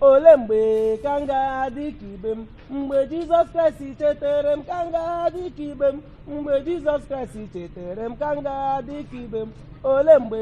ole mgbe ka m ga-adị ka ibe m mgbe jizọs kraịst chetere m ka m ga-adị ka ibe m mgbe jizọs kraịst chetere m ka m ga-adị ka ibe m ole mgbe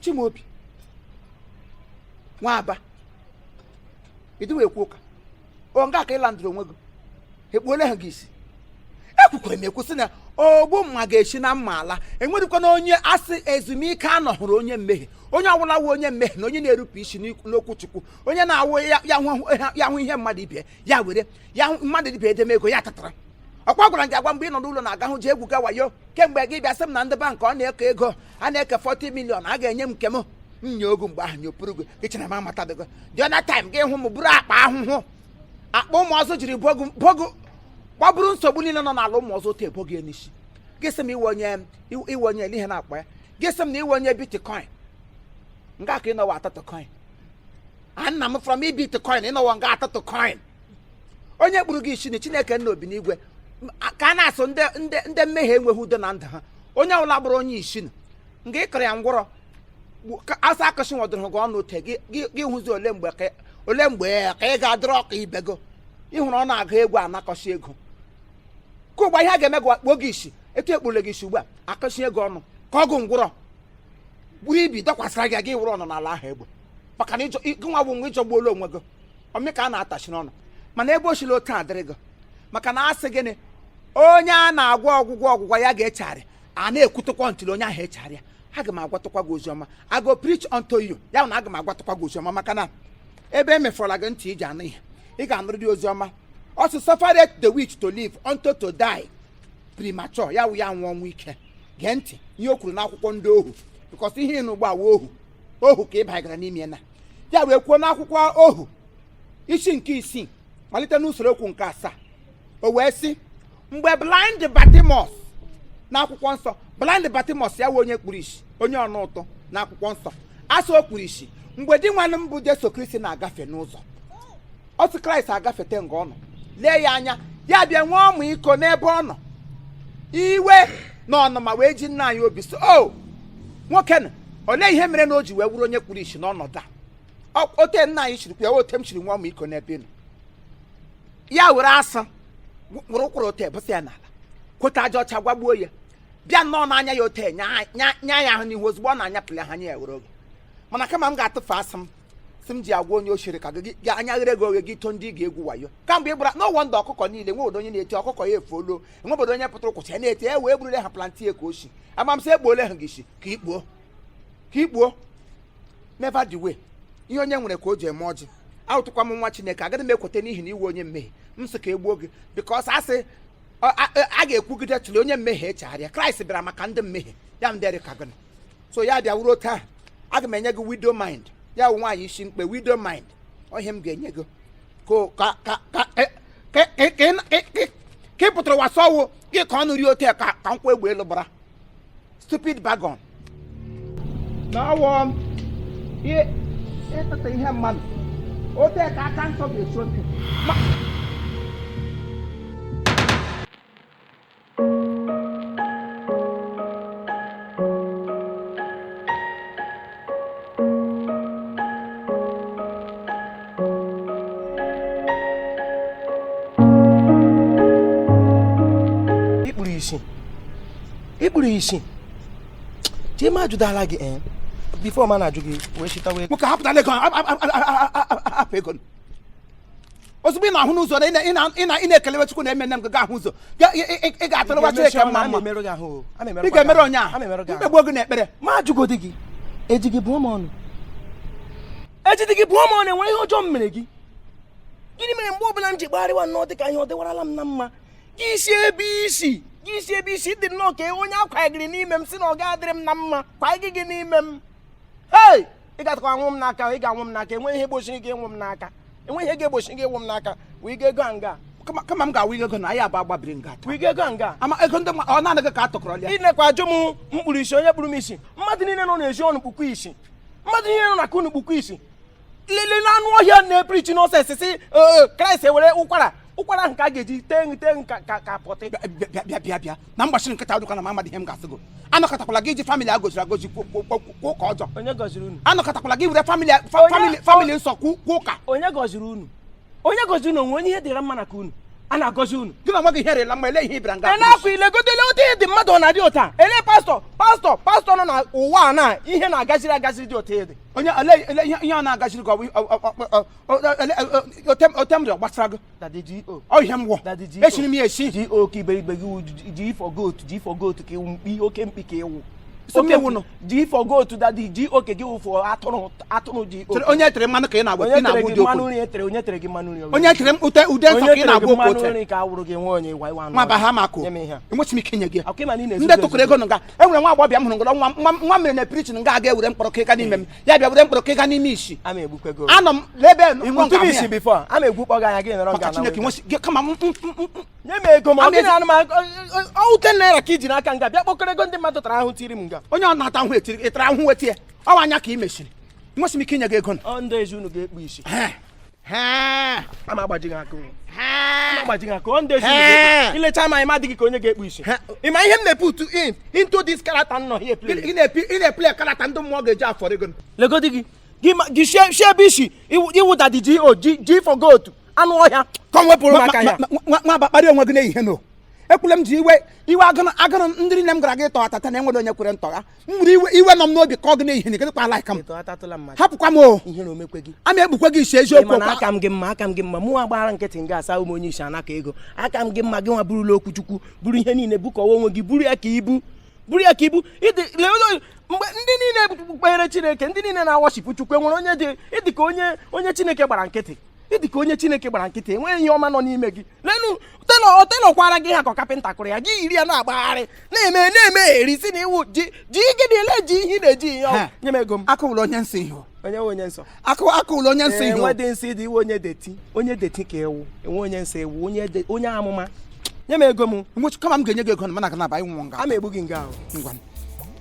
Chimaobi Nwaba ịdịwa ekwu ụka ọ nga ka ịla ndụrụ onwe gị ekpuola ha gị isi ekwukwere m ekwu sị na ogbu mma ga-esi na mma ala enwerekwana onye asị ezumike anọhụrụ onye mmehie onye ọbụla wụ onye mmehie na onye na-erupụ isi n'okwu chukwu onye na-awụ ya hụ ihe mmadụ ibe ya were ya mmadụ ibe edeme ego ya tatara ọkwa agwara gị agwa mgbe ị nọ n'ụlọ na-aga hụ ji egwu ga wayo kemgbe gị bịa sị m na ndị bankị ọ na-eke ego a na-eke 40 million a ga-enye m nke m nye ogu mgbe ahụ nyopụrụ gị ịchara m amatabeghị the other time gị hụ m buru akpa ahụhụ akpa ụmụ ọzọ jiri bo gị kpoburu nsogbu niile nọ n'ala ụmụ ọzọ otu ebo gị n'isi gị sị m ị wụ onye olee ihe a na-akpọ ya gị sị m na ị wụ onye bitcoin nga ka ị nọwa atatọ coin nna m from bitcoin ị nọwa nga atatọ coin onye kpuru gị isi na chineke nna obi n'igwe ka a na-asị ndị mmehie enweghị udo na ndụ ha onye ọbụla bụrụ onye isi na nga ịkọrọ ya ngwọrọ asa akụsị nwọdụrụ gị ọnụ ote gị hụzi ole mgbe ka ị ga-adịrị ka ibe gị ịhụrụ ọ na-agụ egwu anakọsị ego ka ụgba ihe a ga-eme gị kpuo gị isi etu ekpuole gị isi ugbu a akụsị ego ọnụ ka ọgụ ngwụrọ buru ibi dọkwasịra gị gị wụrụ ọnụ n'ala ahụ egbe maka na gị nwa bụ nwa ịjọgbuola onwe gị ọmị ka a na-atachi n'ọnụ mana ebe o siri otu adịrị gị maka na asị gịnị onye a na-agwọ ọgwụgwọ ọgwụgwọ ya ga-echegharị a na-ekwutekwa ntị onye ahụ echegharịa aga m agwatụkwa gị oziọma I go preach unto you ya na aga m agwatụkwa gị oziọma maka na ebe emefọrọla gị ntị iji anụ ihe ị ga-anụrụ dị oziọma ọ sị suffered the witch to live unto to die premature ya wụ ya nwụọ ọnwụ ike gee ntị ihe o kwuru n'akwụkwọ ndị ohu because ihe ịnụ ugbu a wụ ohu ka ị bagara n'ime na ya wee kwuo n'akwụkwọ ohu isi nke isii malite n'usoro okwu nke asaa o wee sị mgbe blind batimọs n'akwụkwọ nsọ blind batimọs ya wụ onye kpuru isi onye ọna ụtụ n'akwụkwọ nsọ asị o kpuru isi mgbe dinwenụ m bụ jesu kristi na-agafe n'ụzọ otu kraịst agafete nga ọ nọ lee ya anya ya bịa nwee ọmịiko n'ebe ọ nọ iwe na ọnụma wee ji nna anyị obi sị nwoke na olee ihe mere na o ji wee wụrụ onye kpuru isi n'ọnọdụ a ote nna anyị chiri ya ote m chiri nwee ọmịiko n'ebe nọ ya were asụ were ụkwara ote bụsa ya n'ala kpota aja ọcha gwagbuo ya bịa nnọọ n'anya ya ote nya ya ahụ n'ihu ozugbo ọ na-anyapụli ha anya ya were oge mana kama m ga-atụfu asụ m si m ji agwa onye oshi rị ka gị gị anya ghere gị oghe gị to ndị ị ga-egwu wayo kamgbe ị gbara n'ụwa ndụ ọkụkọ niile nwe obodo onye na-eti ọkụkọ ya efuolu nwe obodo onye pụtara ụkwụcha ya na-eti e wee gburule ha plantain ka oshi ama m sị egbuole ha gị isi ka ikpuo ka ikpuo never the way ihe onye nwere ka o ji eme ọjị awụtụkwa m nwa chineke agaghị m ekweta n'ihi na ị wụ onye mmehie m sị ka e gbuo gị bikos a sị ọ- a a- a ga-ekwugide till onye mmehie echegharịa kraịst bịara maka ndị mmehie ya ndị rị ka gịnị so ya bịa wụrụ ote a aga m enye gị widow mind ya wụ nwaanyị isi mkpe widow mind ọ ihe m ga-enye gị ka ị pụtara wasa ọ wụ gị ka ọnụ rị ote ka ka nkwụ egbe elu gbara stupid bagon na ọ wụ ịtata ihe mmadụ ote ka aka nsọ ga-esu ote i kpuru isi chima ajụdala gị eh? bifo m na-ajụ gị wee chitawa ego nwoke hapụtala ego hapụ ego ozugbo ị na-ahụ n'ụzọ na ị na-ekelewe Chukwu na-eme nne m ga ahụ ụzọ ị ga-atụrụwa Chineke mma mma ị ga-emere onye ahụ m kpegbuo gị na ekpere m ajụgodi gị eji gị bụọ m ọnụ ejide gị bụọ m ọnụ o nwere ihe ọjọọ m mere gị gịnị mere mgbe ọbụla m ji kpagharịwa nnọọ dị ka ihe ọ dịwarala m na mma gị si ebe i si gị si ebe i si dị nnọọ ka onye a kwanyegịrị n'ime m si na ọ ga-adịrị m na mma kwanyegị gị n'ime m hey ị gatakwa anwụ m n'aka ị ga-anwụ m n'aka enweghị ihe gbochiri gị ịnwụ m n'aka enweghị ihe ga-egbochi gị ịnwụ m n'aka wee ga ego a nga kama kama m ga-awụ ego na anyị abụọ agbabiri nga taa. wee ga ego a nga ama ego ndị mmadụ ọ naanị gị ka a tụkọrọ ya i nekwa ajụ m m kpuru isi onye kpuru m isi mmadụ niile nọ n'ezi unu kpukwu isi mmadụ niile nọ n'aka unu kpukwu isi lelenụ anụ ọhịa na-eprichi n'ọsọ esisi kraịst i nwere ụkwara ụkwara ahụ ka a ga-eji tee nri tee nri ka ka ka pọtị bịa bịa bịa bịa na mgbachiri nkịta ọ dị ka na m amadị ihe m ga-asị gị anụkatakwala gị iji famili a goziri agozi kwuo kwuo- kwuo- kwuo ụka ọjọọ onye gọziri unu anụkatakwala gị were famili a- fa- Onye- famili famili nsọ kwuo kwuo ụka onye gọziri unu onye gọziri unu o nwe onye ihe dịra mma n'aka unu a na-agọzi unu gị na nwa gị ihe rịla mma ele ihe ị bịara nga ị na-akwa i legodele otu ị dị mmadụ ọ na-adị otu a ele pastọ pastọ pastọ nọ na ụwa a na ihe na-agaziri agaziri dị otu a ị dị onye ele ele ihe ihe ọ na-agaziri gị ọ bụ- ọ- ọ- ọ- ọ- ote m rị ọ gbasara gị ọ ihe m wụ esiri m ya esi G.O. ke iberibe gị G for goat G for goat ka ị wụ mkpi oke mkpi ka ị wụ G for goat dadi G.O. ke gị wụfọ atụrụ atụrụ G.O. ke onye e tere mmanụ ka ị na-agwa ị na-agwa ụdị okwu onye tere onye tere gị mmanụ nri onye e tere ute ude nsọ ka ị na-agwa okwu ote nri ka awụrụ gị nwe onye iwa iwa ma ba ha mako enwechi m ike nye gị ndị tụkụrụ ego nga enwere nwa agbọbịa m hụrụ ngọrọ nwa nwa mere na pirichin nga aga ewere mkpọrọ ka ịga n'ime m ya bịa buru mkpọrọ ka ị ga na-eme isi ama egbukwe gị anọ m n'ebe ị wụ ntụbụ isi before ama egbukpọ gị anya gị nọrọ maka nga chineke nwe gị kama m- m- m- m- nye m ego ma Ama gị ego- na anụmanụ ọ wụ ten naira ka i ji n'aka nga bịa kpọkọrọ ego ndị mmadụ tara ahụ tiri m nga onye ọ na-ata ahụ etiri ị tara ahụ wetie ọ wụ anya ka ị mesiri enwesị m ike inye gị ego nụ. ọ ndị ezi unu ga-ekpu isi Ee. ama agbaji gị aka agbaji gị aka ọ ndị ezi i lechaa m ị ma adịghị ka onye ga-ekpu isi ị ma ihe m na-eput in into this character nọ here ị na-eplay character ndị mmụọ ga-eji afọ ego legodi gị gị shie ebe i si ị wụ daddy G O G for goat anụ ọhịa ka ọ wepụrụ maka ya nọ ebe a akparị onwe gị n'ehihie no ekwela m ji iwe iwe agụrụ ndị nne m gara gị tọgha tata na enwere onye kwere ntọgha m were iwe iwe nọ m n'obi ka ọ gị na-ehi gị kwa laika m hapụkwa m o a ma egbukwe gị isi eziokwu aka m gị mma aka m gị mma mụnwa gbara nkịtị nga a sị a wụ m onye isi anakọ ego aka m gị mma gị nwa burula okwu chukwu buru ihe niile bukọwa onwe gị buru ya ka ibu buru ya ka ibu mgbe ndị niile kpere chineke ndị niile na-aworship chukwu enwere onye dị ị dị ka onye onye chineke gbara nkịtị ị dị ka onye chineke gbara nkịtị enweghị ihe ọma nọ n'ime gị lenu tailor tailor kwara gị ha ka carpenter kụrụ ya gị yiri ya na-agbagharị na-eme na-eme eri sị na ị wụ G G gịnị ele ji ihe na-eji ihe ọgwụ nye m ego m akụwụrụ onye nsọ ihu onye nwe onye nsọ akụ akụwụrụ onye nsọ ihu enwe dị nsọ ịdị iwe onye dirty onye dirty ka ewu enwe onye nsọ ewu onye de- onye amụma nye m ego m nwụchi kama m ga-enye gị ego na mana aga na-aba ịnwụ nga a ma egbu gị nga ahụ ngwa m